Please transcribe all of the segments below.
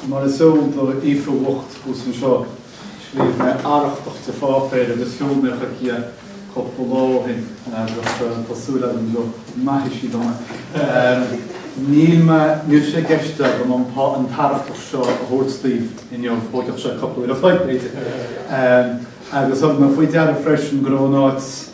Mar is eol do Aoife bhocht thuas anseo, scríobh mé arrachtach de pháipéar agus sheol mé chuici é cúpla lá ó shin agus tá súil agam go maithfidh sí dom é. Níl sé i gceist agam an t-arrachtach seo a thabhairt daoibh inniu, tógfadh sé cúpla uair a chloig, b'fhéidir, agus thug mé faoi deara freisin go raibh an áit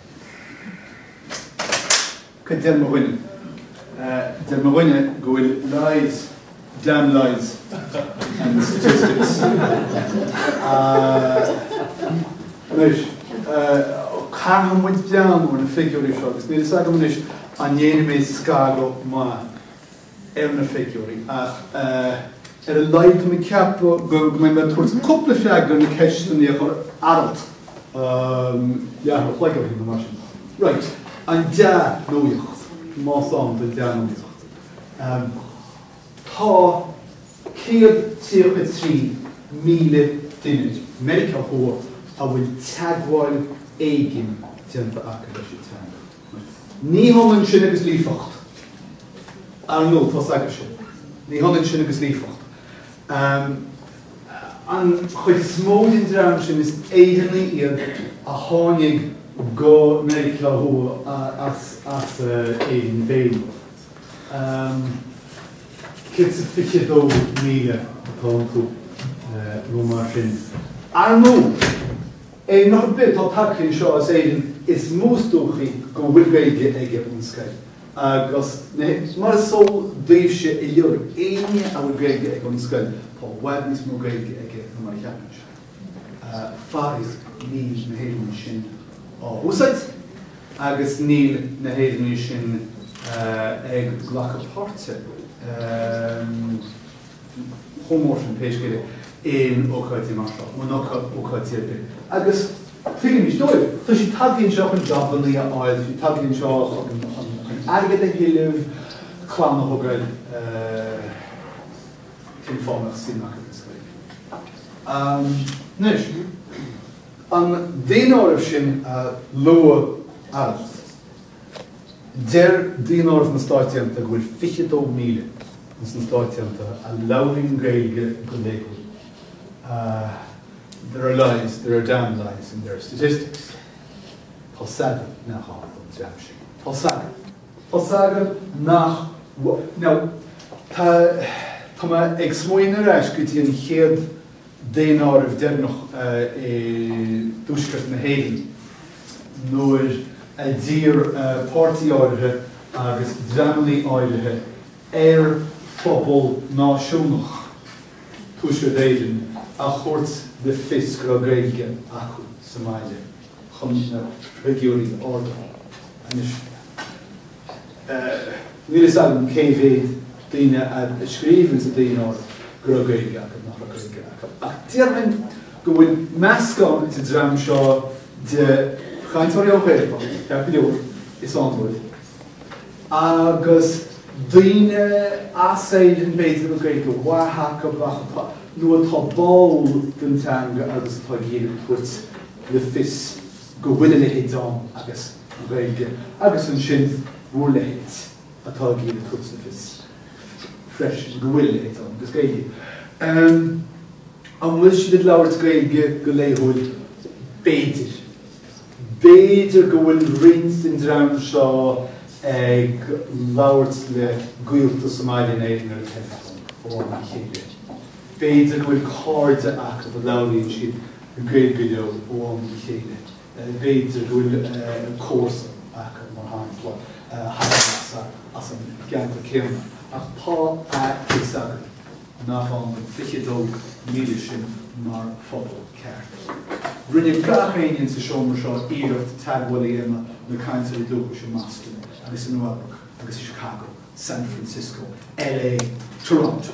Céard a deir mo dhuine? Deir mo dhuine go bhfuil lies, damn lies and statistics. Anois, caithfidh muid breathnú ar na figiúirí seo agus níl 'fhios agam anois an ndéanfaidh mé scagadh maith. ar na figiúirí ach ar a laghad tá mé ag ceapadh go mbeidh mé ag tabhairt cúpla freagra ar na ceisteannaí a chuir Aralt leathuair an chloig ó shin nó mar sin. Raight, an dea-nuaíocht, más ann do dhea-nuaíocht. Tá céad tríocha trí míle duine i Meiriceá Thuaidh a bhfuil teagmháil éigin déanta acu leis an teanga. Ní hionann sin agus líofacht, ar ndóigh, tá's agaibh sin. Ní hionann sin agus líofacht. An chuid is mó den dream sin, is Éireannaigh iad a tháinig go Meiriceá Thuaidh as Éirinn féin. Céad is fiche dó míle atá iontu, nó mar sin. Ar ndóigh, duine ar bith atá tagtha anseo as Éirinn is mó is dóichí go bhfuil Gaeilge aige ón scoil agus mar is eol daoibhse uilig éinne a bhfuil Gaeilge aige ón scoil tá i bhfad níos mó Gaeilge aige ná mar a cheapann sé. Faraoir níl na hÉireannaigh sin á húsáid agus níl na hÉireannaigh sin ag glacadh páirte. chomh mór sin, pé scéal é, in ócáidí mar seo, nó in ócáidí ar bith. Agus tuigimid dóibh. Tá siad tagtha anseo chun jabannaí a fháil, tá siad tagtha anseo chun airgead a thuilleamh, clann a thógáil, cén fáth a mbeadh suim acu sa Ghaeilge? Anois, an daonáireamh sin a luaigh Aralt, Deir Daonáireamh na Stáit Aontaithe go bhfuil 22,000 ins na Stáit Aontaithe a labhraíonn Gaeilge go laethúil. There are lies, there are damned lies and there are statistics. Tá s'againn, nach ann don dream sin. Tá s'againn. Tá s'againn nach, now, tá mé ag smaoineamh ar ais go dtí an chéad, daonáireamh deireanach i dTuaisceart na hÉireann, nuair a d'iarr páirtí áirithe agus dreamannaí áirithe ar phobal náisiúnach Thuaisceart Éireann a thabhairt le fios go raibh Gaeilge acu sa mbaile chun na figiúirí a ardú. Anois. Níl a fhios agam cé mhéad daoine a scríobh sa Daonáireamh go raibh Gaeilge acu, nach raibh Gaeilge acu, ach déarfainn go bhfuil meascán sa dream seo de chainteoirí ón Ghaeltacht, ceart go leor, is ann dóibh, agus daoine as Éirinn, b'fhéidir, a bhfuil Gaeilge mhaith acu ach atá, nó atá báúil don teanga agus atá ag iarraidh tabhairt le fios go bhfuil a leithéid ann agus. Gaeilge agus ansin bhur leithéid atá ag iarraidh tabhairt le fios freisin go bhfuil a leithéid ann agus Gaeilge. An bhfuil siad ag labhairt Gaeilge go laethúil? B'fhéidir. B'fhéidir go bhfuil roinnt den dream seo ag labhairt le gaolta sa mbaile in Éirinn ar an teileafón ó am go chéile. B'fhéidir go bhfuil cairde acu a labhraíonn siad Gaeilge leo ó am go chéile. b'fhéidir go bhfuil comharsa acu, mar shampla, a thagann as an gceantar céanna, ach tá a fhios agam nach ann don 22,000 sin mar phobal ceart. Rinne gach éinne sa seomra seo iarracht teagmháil a dhéanamh le cainteoirí dúchais i mBoston agus i Nua Eabhrac agus i Chicago, San Francisco, LA, Toronto.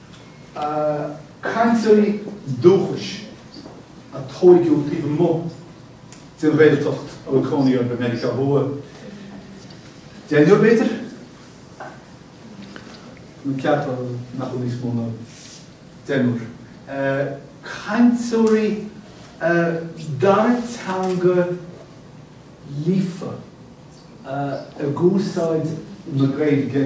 cainteoirí dúchais a tóigeadh taobh amuigh den Ghaeltacht a bhfuil cónaí orthu i Meiriceá Thuaidh. Deichniúr, b'fhéidir? Ceapaim nach bhfuil níos mó ná deichniúr. Cainteoirí dara teanga líofa ag úsáid na Gaeilge.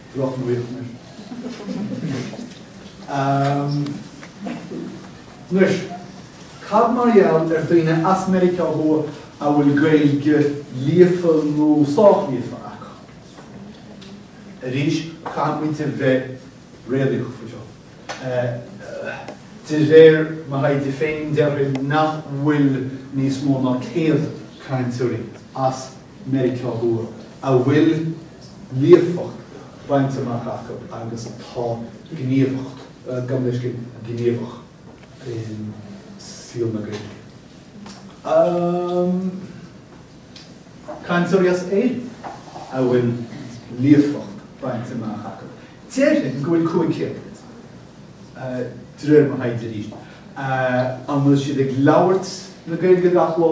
Droch nuacht anois. Anois, cad mar gheall ar daoine as Meiriceá Thuaidh a bhfuil Gaeilge líofa nó sách líofa acu? Arís, caithfidh muid a bheith réalaíoch faoi seo. De réir mo thaighde féin, déarfainn nach bhfuil níos mó ná 100 cainteoir as. Meiriceá Thuaidh a bhfuil líofacht bainte amach acu agus atá gníomhach, gabh mo leithscéal, gníomhach i saol na Gaeilge. Cainteoirí as Éirinn a bhfuil líofacht bainte amach acu, déarfainn go bhfuil 500, de réir mo thaighde arís. An bhfuil siad ag labhairt na Gaeilge gach lá?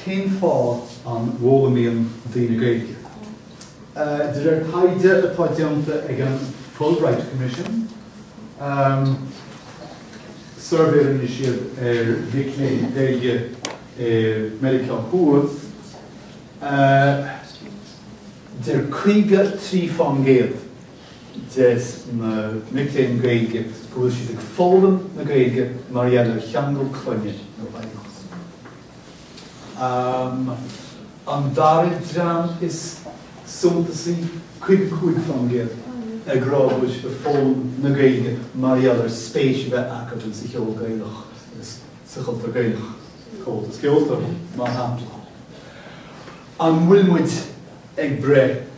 Cén fáth an bhfoghlaimíonn daoine Gaeilge? De réir taighde atá déanta ag an Fulbright Commission, suirbhé a rinne siad ar mhic léinn Gaeilge i Meiriceá Thuaidh, deir 53 faoin gcéad de na mic léinn Gaeilge go bhfuil siad ag foghlaim na Gaeilge mar gheall ar cheangal clainne nó oidhreacht. An dara dream is suntasaí, 55%, ag rá go bhfuil siad ag foghlaim na Gaeilge mar gheall ar spéis a bheith acu ins an cheol Gaelach agus sa chultúr Gaelach, Comhaltas Ceoltóirí, mar shampla. An bhfuil muid ag breith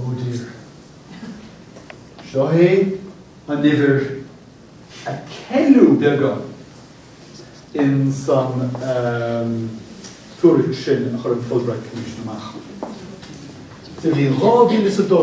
Oh dear. Seo é an uimhir a ceileadh beagán ins an tuairisc sin a chuir an Fulbright Commission amach sa bhliain dhá mhíle is a dó.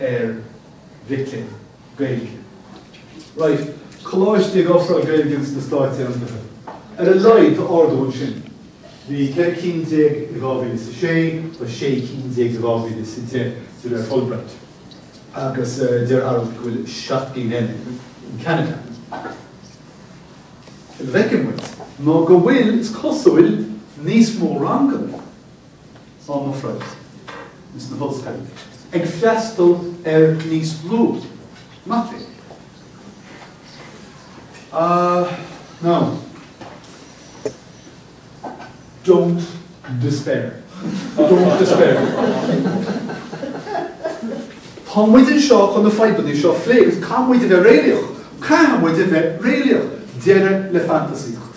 ar mhic léinn Gaeilge. Right, coláiste ag ofráil Gaeilge ins na Stáit Aontaithe. Ar a laghad tá ardú ansin. Bhí ceithre cinn déag i dhá mhíle is a sé, tá sé cinn déag i dhá mhíle is a deich de réir Fulbright. Agus deir Arald go bhfuil seacht gcinn eile in Ceanada. A bhfeiceann muid ná go bhfuil, is cosúil, níos mó ranganna á n-ofráil ins na hollscoileanna, ag freastal ar níos lú mac léinn ná Don't despair. Don't despair. Tá muid anseo chun na fadhbanna seo a phlé agus caithfidh muid a bheith réalaíoch. Caithfidh muid a bheith réalaíoch. Deireadh le fantasaíocht.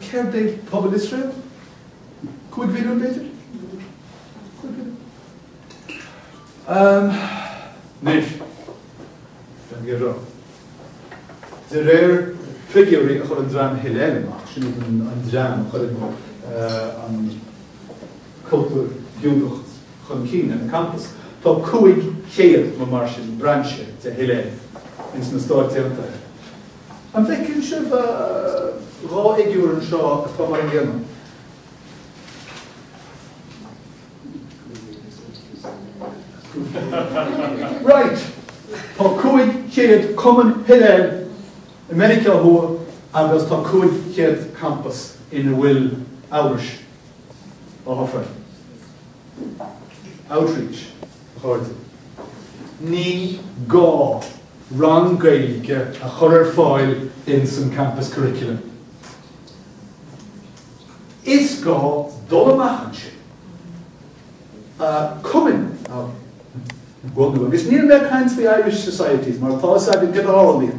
Céard é pobal Iosrael? Cúig mhilliún b'fhéidir? Cúig mhilliún? Ahem. Anois, don't get me wrong, de réir figiúirí a chuir an dream Hillel amach, sin iad an dream a chuireann cultúr Giúdach chun cinn ar na campas, tá cúig chéad, nó mar sin, brainse de Hillel ins na Stáit Aontaithe. An bhfeiceann sibh dhá fhigiúr anseo atá mar an gcéanna? Right! Tá 500 cumann Hillel i Meiriceá Thuaidh agus tá 500 campas ina bhfuil Eabhrais á fhoghlaim. Outreach. Ní gá rang Gaeilge a chur ar fáil in some campus curriculum. Is gá dul amach ansin, cumainn, agus níl mé ag caint faoi Irish Societies, mar tá 's againn cad a tharlaíonn.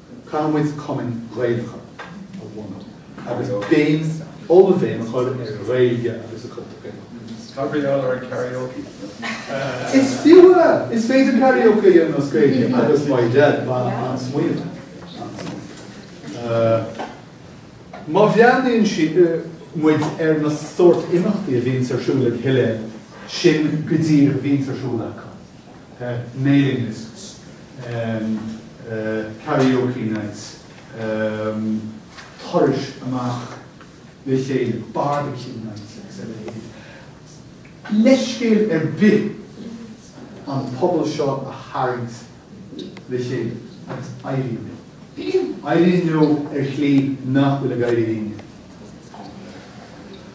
Caithfimid cumainn Ghaelacha a bhunú agus béim ollbhéim a chur ar an Ghaeilge agus an chultúr Gaelach. Tabharfaidh Eolaire karaoke. Is fiú é! Is féidir karaoke a dhéanamh as Gaeilge agus mar de, an-smaointe, an-smaointe. Má bhreathnaíonn sí, muid ar na sórt imeachtaí a bhíonns ar siúl ag Hillel, sin go díreach a bhíonns ar siúl acu. mailing lists, karaoke nights, turais amach le chéile, barbecue nights agus a leithéid. Leithscéal ar bith an pobal seo a tharraingt le chéile agus éiríonn leo. Éiríonn leo ar shlí nach bhfuil ag éirí linne.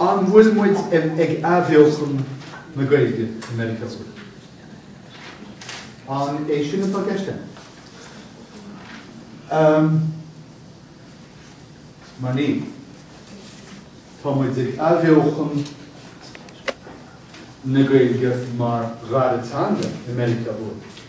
An bhfuil muid ag athbheochan na Gaeilge i Meiriceá Thuaidh? An é sin atá i gceist agat? Ahem. Mar níl. Tá muid ag athbheochan na Gaeilge mar dhara teanga i Meiriceá Thuaidh.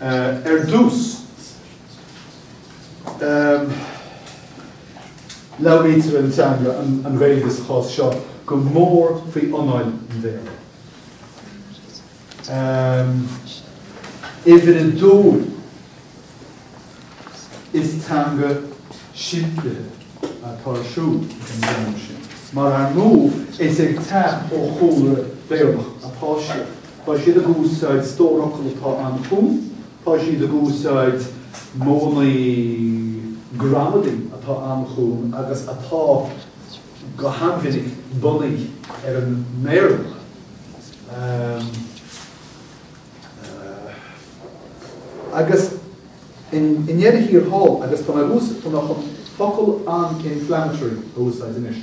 Ar dtús, labhraítear an teanga, an Ghaeilge sa chás seo, go mór faoi anáil an Bhéarla. Uimhir a dó, is teanga simplithe atá ar siúl ag an dream sin, mar ar ndóigh is ag teacht ó chúlra Béarlach atá siad. Tá siad ag úsáid stór fhocal atá an-chúng, tá siad ag úsáid modhanna gramadaí atá an-chúng agus atá go han-mhinic bunaithe ar an mBéarla. Agus i ndeireadh thiar thall, agus tá mé ag ús-, tá mé chun focal an-inflammatory a úsáid anois.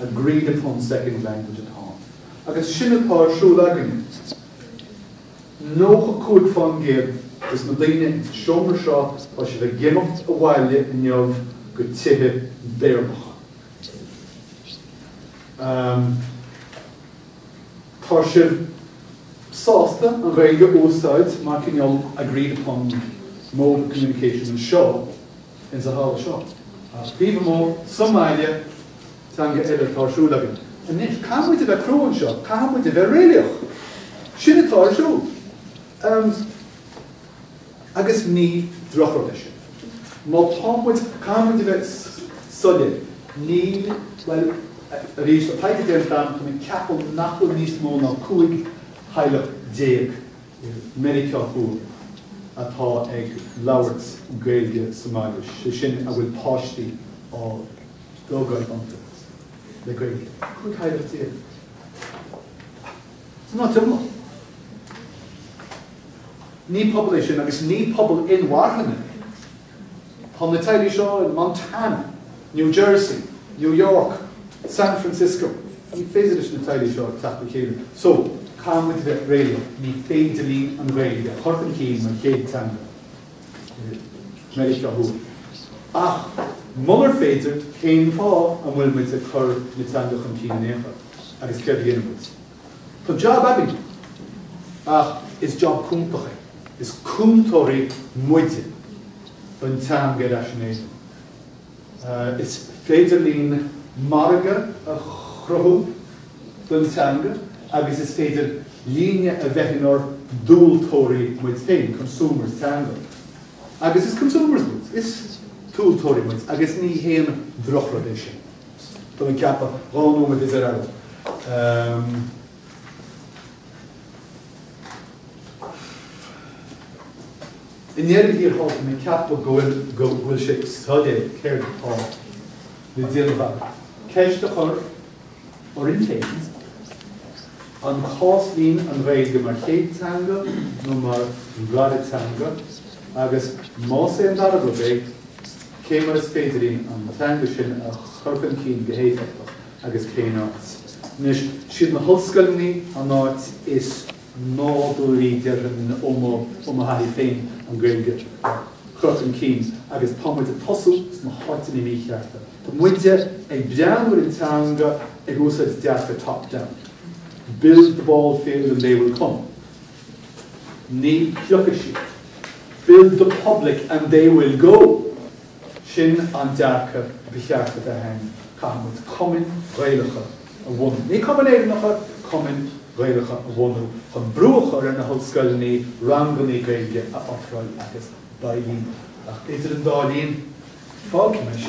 Agreed upon second language at home Agus sin atá ar siúl againne. 95 fán gcéad des na daoine sa seomra seo, tá siad ag imeacht abhaile inniu go tithe Béarlacha. Ahm, tá sibh sásta an Ghaeilge a úsáid mar cineál agreed upon mode of communication anseo? ins a' halla seo, ach taobh amuigh sa mbaile, teanga eile atá ar siúl againn anois. Caithfidh muid a bheith crua anseo, caithfidh muid a bheith réalaíoch, sin atá ar siúl, em, agus ní drochrud é sin, má tá muid, caithfidh muid a bheith soiléir, níl, bhuel, arís, tá taighde déanta agam, tá mé ag ceapadh nach bhfuil níos mó ná cúig theaghlach déag, i Meiriceá Thuaidh atá ag labhairt Gaeilge sa mbaile, sé sin a bhfuil páistí á dtógáil iontu le Gaeilge. Cúig theaghlach déag. San áit iomlán. Ní pobal é sin agus ní pobal inmharthana Tá na teaghlaigh seo in Montana, New Jersey, New York, San Francisco. Ní féidir leis na teaghlaigh seo teacht le chéile so caithfidh muid a bheith réalaíoch, ní féidir linn an Ghaeilge a chur chun cinn mar chéad teanga i Meiriceá Thuaidh. Ach munar féidir, cén fáth an bhfuil muid ag cur na teanga chun cinn in aon chor agus céard a dhéanfaidh muid? Tá jab againn. Ach is jab cúntach é. Is cúntóirí muide don teanga ar ais in Éirinn. Is féidir linn margadh a chruthú don teanga agus is féidir linne a bheith inár dtomhaltóirí muid féin, consumers teanga. Agus is consumers muid, is tomhaltóirí muid agus ní haon drochrud é sin. Tá mé ag ceapadh, dhá nóiméad is ar ais. I ndeireadh thiar thall, tá mé ag ceapadh go bhfuil sé soiléir céard atá le déanamh againn, ceist a chur orainn féin, an cás linn an Ghaeilge mar chéad teanga nó mar dhara teanga, agus más é an dara rud é, Cé mar is féidir linn an teanga sin a chur chun cinn go héifeachtach agus cén áit? Anois, 'siad na hollscoileanna an áit is nádúraí, déarfainn, ó mo thaithí féin an Ghaeilge a chur chun cinn agus tá muid ag tosú sna háiteanna míchearta. Tá muide ag breathnú ar an teanga ag úsáid dearcadh top-down, build the ball field and they will come. Ní thiocfaidh siad. Build the public and they will go! Sin an dearcadh ba cheart a bheith ann, caithfimid cumainn Ghaelacha a bhunú, ní cumainn Éireannacha, cumainn Ghaelacha a bhunú chun brú a chur ar na hollscoileanna ranganna Gaeilge a ofráil agus beidh linn, ach idir an dá linn, fágfaidh mé sin.